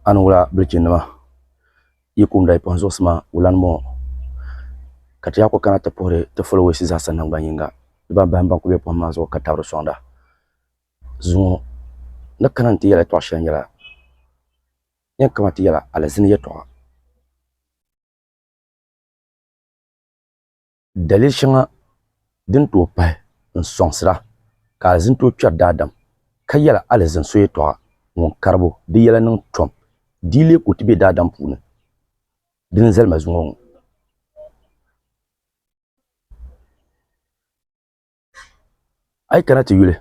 A ni wula bilichinima yi kumda yi kpuɣi n zuɣusi maa wulani bɔŋɔ ka ti yaa kuli kana ti puhiri ti followers zaasa nangban yinga di ban bahim ban kuli be pohim maa zuɣu ka tabiri soŋda zuŋɔ ni kana nti yɛli yɛltɔɣa shɛli nyɛla yɛn kama ti yɛla alizini yɛltɔɣa. Daliya shɛŋa din tooi pahi n-sɔŋsira ka alizini tooi kpɛri daadam, ka yɛla alizini so yɛtɔɣa ŋun karibu di yɛla niŋ tom, di yi leei ka o ti be daadam puuni, di ni zali ma zuŋɔ ŋɔ. a yi kana ti yuli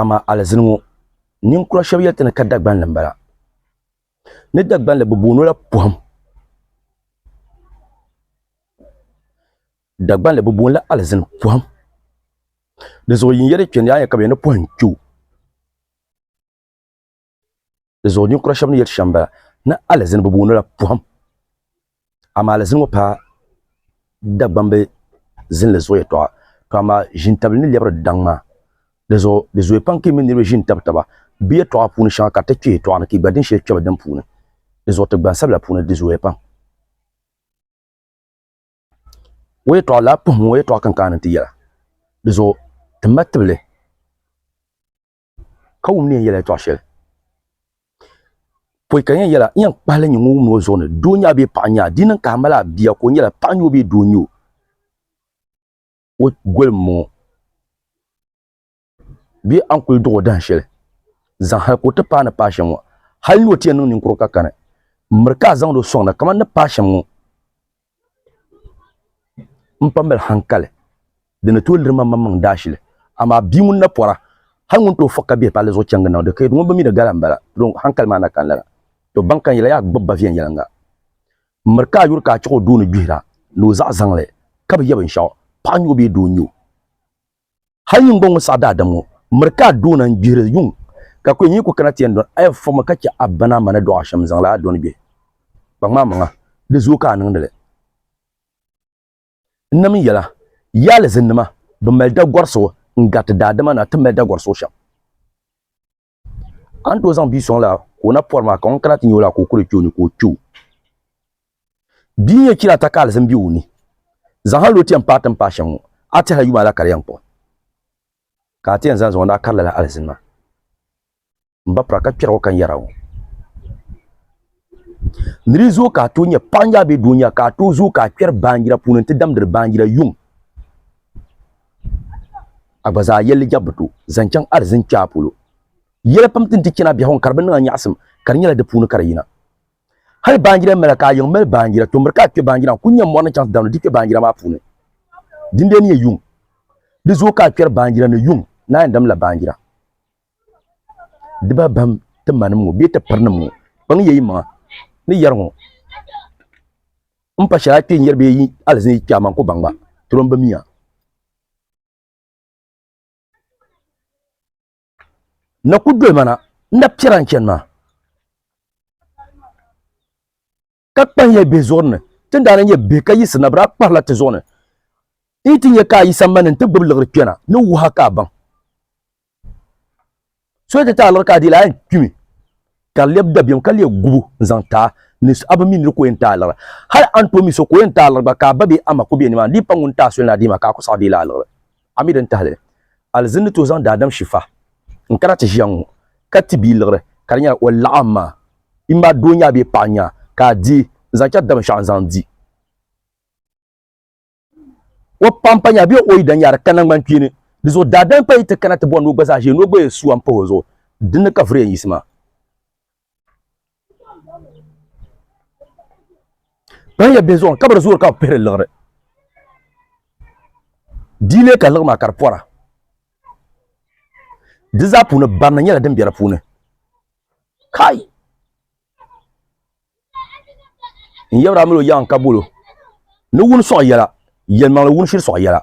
amaa alizini ŋɔ ninkura shɛba yɛli ti ni ka Dagbanli m-bala ni Dagbanli bɛ booni o la pɔhim Dagbanli bɛ booni la alizini pɔhim dinzuɣu yin yɛli kpɛndi a ni yɛli ka bɛ yɛli ni pɔhim kpe o. Di zuɣu ninkura shɛba ni yɛli shɛm bala ni alizini bi booni la pɔhim amaa alizini ŋɔ paai Dagbamb zinli zuɣu yɛtɔɣa to amaa ʒiintabili ni lɛbiri daŋ maa di zuɣu di zooya pam ka yi mini niriba ʒi n-tabi taba bɛ yɛtɔɣa puuni shɛŋa ka di ti kpe yɛtɔɣa ni ka yi gba din shɛli kpe bɛ dini puuni di zuɣu ti gbansabila puuni di zooya pam o yɛtɔɣa lala pɔhim ŋɔ yɛtɔɣa kinkani n-ti yɛla di zuɣu ti ma tibili ka wum ni yɛn yɛla yɛtɔɣa shɛli pɔi ka yɛn yɛla yɛn kpahali nyɛ ŋun wum o zuɣu ni doo nyɛ bee paɣa nyɛ di niŋ ka a mali a bia ka o nyɛla paɣa nyɛ o bee doo nyɛ o o goli n bɔŋɔ bee a ni kuli duɣu dahin shɛli zaŋ hali ka o ti paai ni paai shɛm ŋɔ hali ni o ti yɛn niŋ ninkurigu ka kani miri ka a zaŋdi o sɔŋda kamani ni paai shɛm ŋɔ N pa mali hankali di ni tooi liri ma maŋmaŋ daashili, amaa bia ŋun na pɔra, hal ŋun tooi fɔɣi ka bihi palli zuɣu chaŋgi niŋdi ka yɛli, Ŋumbɔŋɔ mi di gala m-bala, dɔnki hankali maa na kani lala. Tɔ! Baŋ ka n yɛli a gbibi ba viɛnyɛliŋga. M miri ka a yuri ka a chiɣ o doo ni gbihira ni o zaɣ zaŋli ka bi yɛ binshɛɣu, paɣa n-nyɛ o bee doo n-nyɛ o. Hal yingo ŋun saɣi daadam ŋɔ miri ka a doona n-gbihiri yuŋ, ka kuli nyin ku kana ti yɛn dɔni a ya foma ka chɛ a bana a ma ni dɔɣi a shɛm n-zaŋ li a dɔni gbihi kpaŋmaamaŋa, di zooi ka a niŋdi li. N nam yɛla, Yi alizinnima bi mali dagɔri so n-gariti daadama ni a ti mali dagɔri so shɛm. an to zaŋ bia sɔŋ la ka o na pɔri maa ka ŋun kana ti nya o la ka o kuli kpe o ni ka o kpe o. Bia n-yɛn chɛ ni a ta ka alizin be o ni. Zaŋ hal o ti yɛn paai ti ni paai shɛm ŋɔ, a tɛha yuma la ka di yɛn kpuɣi. Ka a ti yɛn zaŋ zaŋ o ni a kari lala alizin maa m-ba pira ka kpɛrigi o ka n yɛri a ŋɔ. Ni di zuɣu ka a tooi nyɛ paɣa nyaa bee doo nyaa ka a tooi zooi ka a kpɛri baanjira puuni n-ti damdiri baanjira yuŋ. A gba zaa yɛlli jɛbu bi to zaŋ chaŋ alizin kpɛaa polo. Yɛla pam ti ni ti chani a biɛhigu ni ka di bi niŋ a nyaɣisim ka di nyɛla di puuni ka di yina. Hali baanjira mala ka a yiŋ mali baanjira, tɔmbiri ka a kpɛ baanjira n-kuli nya mɔri ni chaŋ ti damdi di kpɛ baanjira maa puuni. Dindee ni nyɛ yuŋ. Di zooi ka a kpɛri baanjira ni yuŋ ni a yɛn damdila baanjira. dibabam ti ma nim ŋɔ bee ti piri nim ŋɔ kpaŋ yi yɛ yi maŋa ni yɛri ŋɔ n pa shɛli a kpee yɛli bee alizin yi kpɛ aman ku baŋ ba ti lo n bi miya na ku doli ma na n na piɛra n chɛni maa ka kpahiya bihi zuɣu ni ti ni daa nyɛ bihi ka yiɣisirina bi daa kpahila ti zuɣu ni n yi ti nyɛ ka a yi sambani n ti gbubi liɣiri kpɛna ni wuha ka a baŋ so ti taai liɣi ka a diila a yɛn kpimi ka di lɛbi dabiɛm ka lee gubu n zaŋ taa ni a bi mi niri ka o yɛn taai liɣiri hali a ni tooi mi so ka o yɛn taai liɣiri gba ka a ba bee ama ku bɛ nimaani di yi pa ŋun taai soli ni a dii maa ka a ku saɣi deei li a liɣiri A mi din tahili alizin ni tooi zaŋ daadam Shifa n-kana ti ʒiya ŋɔ ka ti bia liɣiri ka di nyɛla o laɣim ma i ma doo n-nyɛ a bee paɣa n-nyɛ a ka a deei n-zaŋ chɛri dabinshaɣu n-zaŋ di o paɣa m-pa nyɛ a bee o yidana n-nyɛ a di ka naŋgbankpeeni di zuɣu daadam kpayi ti kana ti bɔri ni o gba zaa ʒiya ni o gba yɛn sua m-pahi o zuɣu dinni ka viriya n-yiɣisi maa. ban yɛ bɛ zuɣu kabiri zuɣu ka bi pihiri liɣiri diile ka liɣi maa ka di pɔra di zaa puuni barina nyɛla din bɛ di puuni kai n yɛbiri amilo yaŋ ka bolo ni wuni sɔɣ yɛla yɛlimaŋli wuni shiri sɔɣ yɛla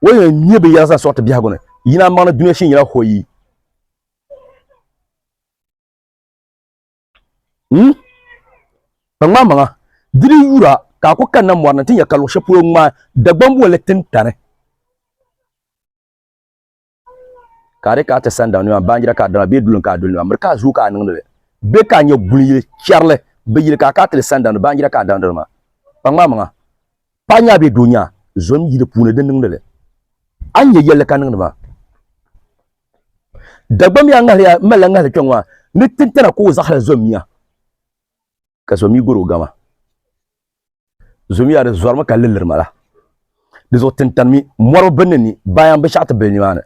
o yɛn nyɛ bi yɛla zaŋ sɔɣ ti biɛhigu ni yina maŋli dunia shee nyɛla hoyi Hmm? Kpaŋmaa maŋa, diri yura ka a ku kanna mɔri ni ti nya ka luɣ shɛli polo ŋmaai Dagbaŋ bolli tintani. Ka a di ka a ti sandaŋ nima baanjira ka a dama bee dulin ka a duli nima miri ka a zuui ka a niŋdi li bee ka a nya guli yili chɛrili bi yili ka a ka a ti li sandaŋ ni baanjira ka a daŋdi nima. Kpaŋmaa maŋa, Paɣa nyaa bee doo nyaa zom yili puuni di niŋdi li. A ni nyɛ yɛlli ka niŋdi maa. Dagbammiya a ŋahili yaa malila ŋahili kpɛŋɔ maa ni tintana ka o zaɣili zommiya ka zommi gɔri o gama. Zommi yaa di zɔrimi ka liliri mala. Di zuɣu tintanimi mɔri bi ni ni baayam bi shɛɣu ti bili nimaani.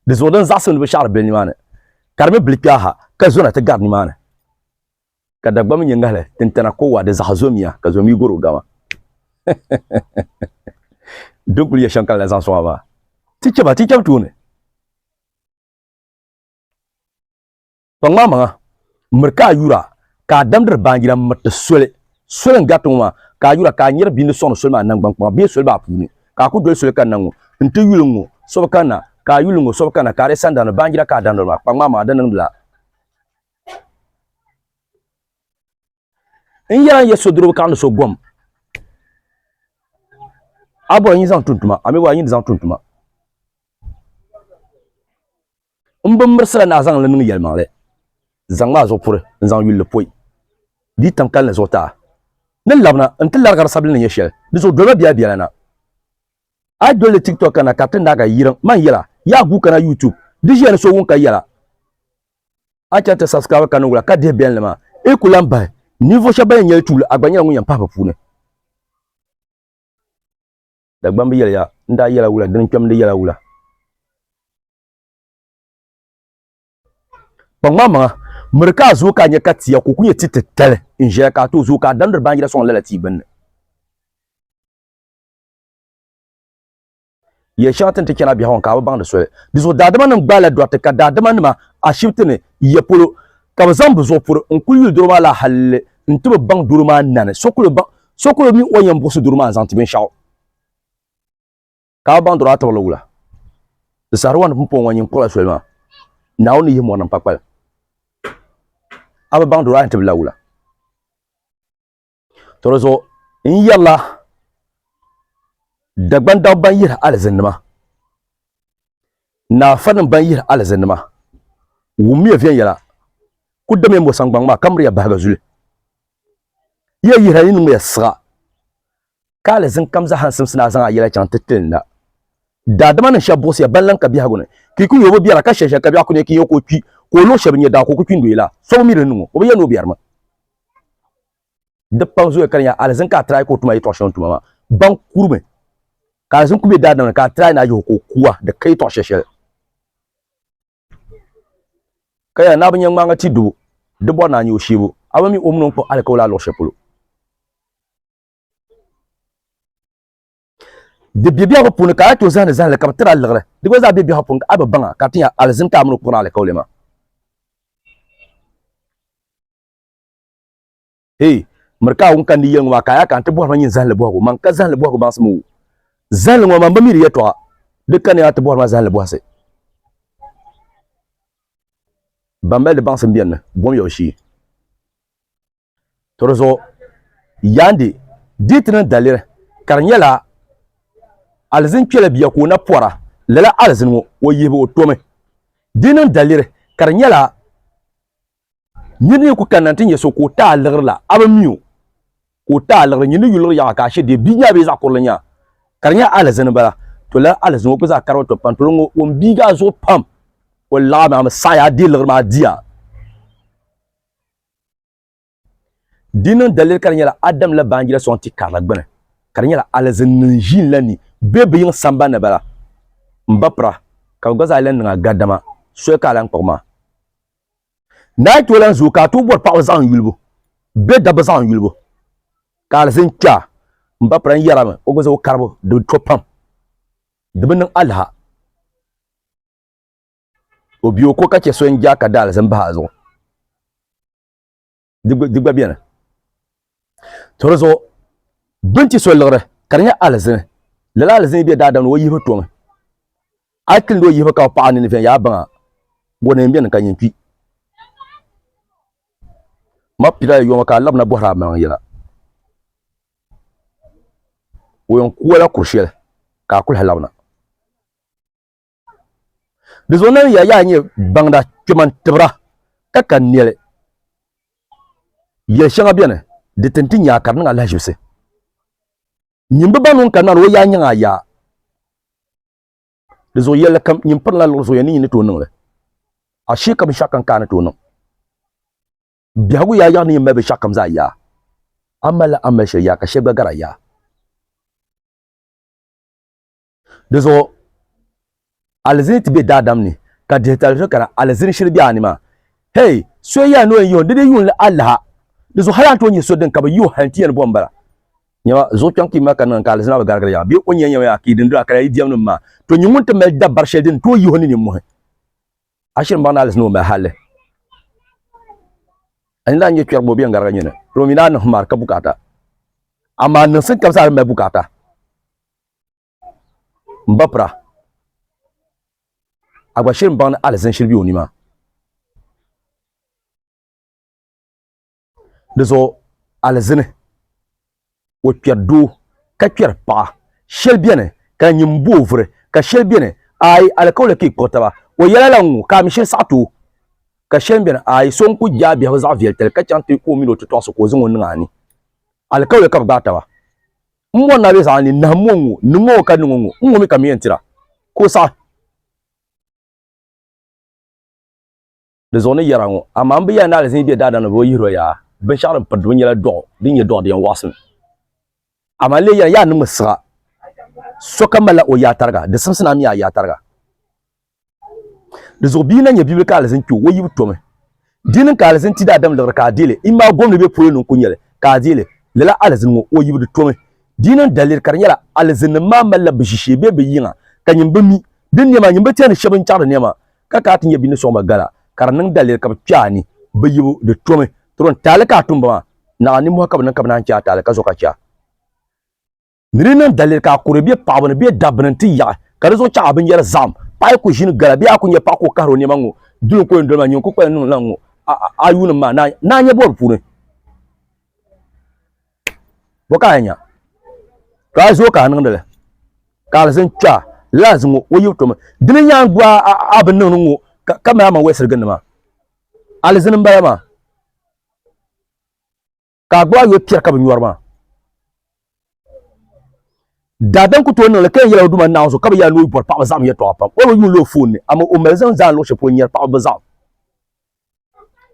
Di zuɣu din zaɣisim ni bi shɛɣiri bili nimaani ka di mi bili kpɛha ha ka zona ti gari nimaani. ka Dagbamba nyɛ ŋahili tintana ko waa di zaɣa zomiya ka zom yi goro gama din kuli yɛ shɛŋ ka lala zaŋ soŋ a maa ti chɛba ti chɛb tooni pa ŋmaa maŋa miri ka a yura ka a damdiri baanjira n miriti soli soli n gariti ŋɔ maa ka a yura ka a nyɛri bia ni soŋdi soli maa nangban kpaŋa bee soli maa puuni ka a ku doli soli kanna ŋɔ n ti yuli ŋɔ so bi kanna ka a yuli ŋɔ so bi kanna ka a di sandani baanjira ka a damdiri maa pa ŋmaa maŋa di niŋdila n yɛla n yɛ sodiribu ka ni so gom a bɔri nyi zaŋ tuntuma a mi bɔri nyi zaŋ tuntuma n bin mirisira ni a zaŋ li niŋ yɛlimaŋli zaŋ maa zuɣu puri n zaŋ yulli poi di tam kalinli zuɣu taa ni labina n ti larigari sabili ni nyɛ shɛli di zuɣu dolima biɛla biɛla na a dolli tiktok kana ka ti naaga yirim man yɛla yaa guu kana youtube di ʒiya ni so wun ka yɛla a chɛŋ ti subscribe ka niŋ wula ka dihi bɛnli maa i ku lan bahi ninvuɣu shɛba ban yɛn nyɛli tuuli a gba nyɛla ŋun yɛn pahi bɛ puuni Dagbamb yɛliya n daa yɛla wula dini kpɛm di yɛla wula kpaŋmaŋ maŋa miri ka a zooi ka a nyɛ ka tia ka o ku nyɛ ti titali n ʒɛya ka a tooi zooi ka a damdiri baanjira sɔŋ lala tia gbunni yɛli shɛŋa tin ti chɛna biɛhigu ŋɔ ka a bi baŋ di soli di zuɣu daadama nim gbaala dɔriti ka daadama nima ashibiti ni yiya polo ka bi zaŋ bi zuɣu puri n kuli yuli doro maa la halli n ti bi baŋ doro maa nani so kuli baŋ so kuli mi o yɛn buɣisi doro maa n zaŋ ti binshaɣu ka a bi baŋ doro a tibirili wula di sahari wani pun pɔŋ ŋɔ nyin kpuɣila soli maa naawuni ni yihi mɔri niŋ pakpali a bi baŋ doro a yɛn tibila wula to di zuɣu n yɛrila dagban dab ban yihiri alizinima ni afanim ban yihiri alizinima wummiya viɛnyɛla ku damiya mo saŋgbaŋ maa ka miriya bahiga zuli yi yɛn yihira yi niŋmiya siɣa ka alizin kam zahan simsi na zaŋ a yɛla chaŋ ti tili na. Daadama nim shɛba buɣisiya ban lan ka biɛhigu ni, ki ku yobu biɛra ka shɛli shɛli ka biɛɣu ku nya ki yo ka o kpi, ka o luɣ shɛba nya daa ka o ku kpi n-doya la, so bi mi di ni niŋ o, o bi yɛli ni o biɛrimi. Di pam zooya ka di nya alizin ka a tirai ka o tuma yɛtɔɣ shɛŋa tuma maa. Ban kurimi ka alizin ku be daadama ni ka a tirai ni a yihi o ka o kuwa, di ka yɛtɔɣ shɛshɛli. Ka yɛla ni a bi nya ŋmaaŋa ti dubu, di bɔri ni a nya o sheebu, a bi mi o mini o ni kpuɣ alikawali a luɣ shɛli polo. di bɛ biɛhigu puuni ka a to zahani zahali ka bi tiri a liɣiri di gba zaa bɛ biɛhigu puuni a bi baŋa ka tinya alizim ka a mini o kuri alikauli maa hey miri ka a wun kan di yɛli ŋɔ maa ka a yaa ka n ti bɔhiri ma nyin zahali bɔhigu man ka zahali bɔhigu baŋsim wu zahali ŋɔ man bi mi di yɛtɔɣa di ka ni a ti bɔhiri ma zahali bɔhisi ban mali di baŋsim biɛni ni bom yawu shee To di zuɣu yaandi dii ti niŋ daliri ka di nyɛla alizin kpɛla bia ka o na pɔra lala alizin ŋɔ o yihibu o tomi di niŋ daliri ka di nyɛla nyin ni ku kanna ti nyɛ so ka o taai liɣirila a bi mi o ka o taai liɣiri nyin ni yu liɣiri yaɣa ka ashe dee bia maa bee zaɣ kurili nyaa ka di nyɛ alizin bala to lala alizin ŋɔ ku zaa kari o to pam to ŋɔ o n biigaa zuɣu pam o laɣa maa mi saɣaya a dee liɣiri maa diya Di niŋ daliri ka di nyɛla Adam la baanjira sɔŋ ti karili gbini, ka di nyɛla alizinnim ʒiin la ni be bɛ yiŋ samba ni bala. M ba pira, ka bɛ gba zaa lan niŋ a gardama, soli ka a lan kpuɣi maa. Naa yi tooi lan zooi ka a tooi bɔri paɣiba zaɣim yulibu bee dabba zaɣim yulibu ka alizin kpe a, m ba pira n yɛri a mi o gba zaŋ o karibu di bi to pam, di bi niŋ aliha. o bi o ko ka chɛ so n ja ka da alizin bahi a zuɣu di gba bɛni to di zuɣu bin ti so liɣiri ka di nyɛ alizini lala alizini bɛ daadam ni o yihi tomi a kili ni o yihi ka o paɣa nini viɛn yaa baŋa o neen bɛni ka nyin kpi ma pira yoma ka a labina bɔhiri a maŋ yɛla o yɛn kuola kuri shɛli ka a kuli labina Di zuɣu nani ya yaa nyɛ baŋda kpɛman tibira ka ka nɛli. Yɛli shɛŋa beni di tin ti nyaa ka di niŋ a lahiʒibisi. Nyin bi baŋ nuu n-kani maa ni o yaa nyaŋ a yaa. Di zuɣu yɛlli kam nyin pirila liɣiri zuɣu ya ni nyin ni tooi niŋ li. Ashee ka binshɛɣu kam ka a ni tooi niŋ. Biɛhigu yaa yaɣi ni nyin mali binshɛɣu kam zaa yaa. A malila a mali shɛli yaa ka shɛli gba gari a yaa. Di zuɣu alizini ti be daadam ni, ka dihitali so kana alizini shiri be a ni maa. Hey, so yɛli ni o yɛn yihi o, di di yuun alaha. Di zuɣu hali a ni tooi nyɛ so din ka bi yi o hali n-ti yɛn ni bo m-bala. Nyama, zuɣu kpiɔŋ kpiimba ka niŋ ka alizina bi garigiri yaŋa, bee o ni yɛn yɛm ya ka yi di n-dira ka di yi diɛmnim maa, to nyini ŋun ti mali dabari shɛli din tooi yihi o ni nimmɔhi, a shiri m-baŋ ni alizina o mali halli. A ni daa nyɛ kpɛrigu o be n gariga nyini, dama o mi daa niŋ himar ka bukaata. Amaa niŋsim kam zaa di mali bukaata. M ba pira, a gba shiri m-baŋ ni alizin shiri be o ni maa. Di zuɣu alizini o kpɛri doo ka kpɛri paɣa. Shɛli beni ka di nyini m-bo o vuri ka shɛli beni aai alikauli ka yi kpuɣi taba. O yɛla lala n-ŋu ka a mi shiri saɣiti o. Ka shɛli mi beni aai so n-kuli je a biɛhigu zaɣ viɛlitali ka chaŋ ti ka o mini o titɔɣisi ka o zaŋ o niŋ a ni. Alikauli ka bɛ gbaai taba. M mɔni na bɛ zaɣa ni nahim ŋɔ ŋɔ, niŋ ŋɔ ka niŋ ŋɔ, n ŋɔ mi ka mi yɛn tira ka o saɣi di zuɣu ni yɛra ŋɔ. Amaa m bi yɛli ni alizin be daadam ni bɛ bi yihir o yaa, binshɛɣu din piridi ŋɔ nyɛla dɔɣu din nyɛ dɔɣu di yɛn wɔɣisim. Amaa n lee yɛli, yaa niŋmi siɣa, sokam malila o yaatariga, di simsi ni a mi a yaatariga. Di zuɣu bia na nyɛ bibili ka alizin kpɛ o, o yibu tomi. Di niŋ ka alizin ti daadam liɣiri ka a deei li, imaa gom ni bɛ polo ni n-ku nyɛ li ka a deei li. Lala alizin ŋɔ, o yibu di tomi. Di niŋ daliri ka di nyɛla alizinnim maa malila bɛ ʒishee bee bɛ yiŋa ka nyini bi mi. Di nɛma, nyini bi tɛhindi shɛba n-chaɣiri nɛma ka ka a ti nyɛ bɛ ni sɔŋ ba gala ka di niŋ daliri ka bɛ kpɛ a ni. Bɛ yibu di tomi. Tɔro n-taali ka a tum ba maa, naɣila nimmɔhi ka bɛ niŋ ka bɛ naan chɛ a taali ka zo ka chɛ a. Ni di niŋ daliri ka a kuri bɛ paɣaba ni bɛ dabba ni nti yaɣi, ka di zuɣu chaŋ a binyɛri zahim, paɣa yi ku ʒini gala bee a ku nya paɣa ka o kahiri o nɛma ŋ-ŋɔ duli ka o yɛn doli maa nyini ku kpalim niŋ lan ŋ-ŋɔ a yuunim maa ni a nya bɔri puuni. Bɔ ka a yɛn nya? Ka a zo ka a niŋdi li, ka alizin kpɛɣa lala zi ŋ-ŋɔ o yibu tomi. Di ni nyaangi gba a bi niŋdi ŋ-ŋɔ ka mali a maŋ wɛlisiri gindi maa, alizin m-bala maa. ka a gbubi a yoli piɛri ka bi nyɔri maa daadam ku tooi niŋli ka yɛn yɛla o duma naawuni so ka bi yɛla ni o bɔri paɣaba zaɣim yɛtɔɣa pam o bi yuuni o foon ni amaa o mali zaŋ zaa luɣu shɛli polo nyɛri paɣaba bi zaɣim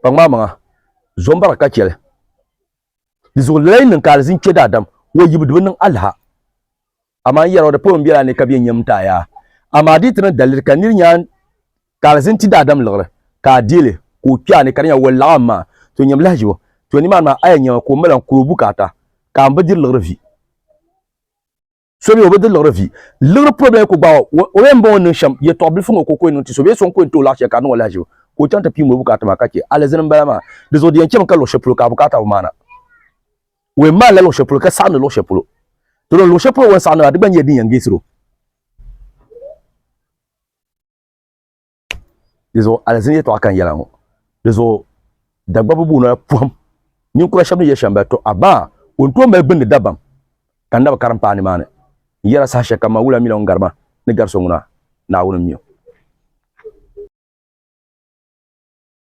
pa ŋmaa maŋa zombara ka chɛli di zuɣu lala yi niŋ ka alizin kpɛ daadam o yibu di bi niŋ alaha amaa n yɛra o di pɔi biɛla ni ka bɛ nyɛ m-taai a. Amaa di yi ti niŋ daliri ka nir nyaŋ ka alizin ti daadam liɣiri ka a deei li ka o kpe a ni ka di nya walilaɣu am maa, to nyam lahiʒibu, to nimaani maa a yɛn nyami ka o mali a n-kuri o bukaata ka a ni bi diri liɣiri vi. So mi o bi diri liɣiri vi. Liɣiri pɔi bɛla yi ku gbaag o, o yɛn m-bɔŋɔ n-niŋ shɛm, yɛtɔɣ bilifu ŋɔ ka o ku yɛn niŋ ti so bee so n-ku yɛn ti o laɣ shɛli ka a niŋ o lahiʒibu ka o chaŋ ti piim o bukaata maa ka chɛ alizin m-bala maa. Di zuɣu di yɛn chami ka luɣ shɛli polo ka a bukaata bi maana. O yɛn maalila luɣ shɛli polo ka saɣindi luɣ shɛli polo. Dolo luɣ shɛli polo o ni saɣindi maa, di gba nyɛla din yɛn geesir o. Di zuɣu alizini yɛtɔɣa ka n yɛla ŋɔ. Di zuɣu Dagbabu buu noli pɔhim ninkura shɛba ni yɛli Shɛmbali, Tɔ! Abaa! O ni tooi mali gbindi dabam ka n naba karim paai nimaani. N yɛla saha shɛlikam maa, wula mila ŋun gari ma ni gari so ŋuna, Naawuni m-mi o.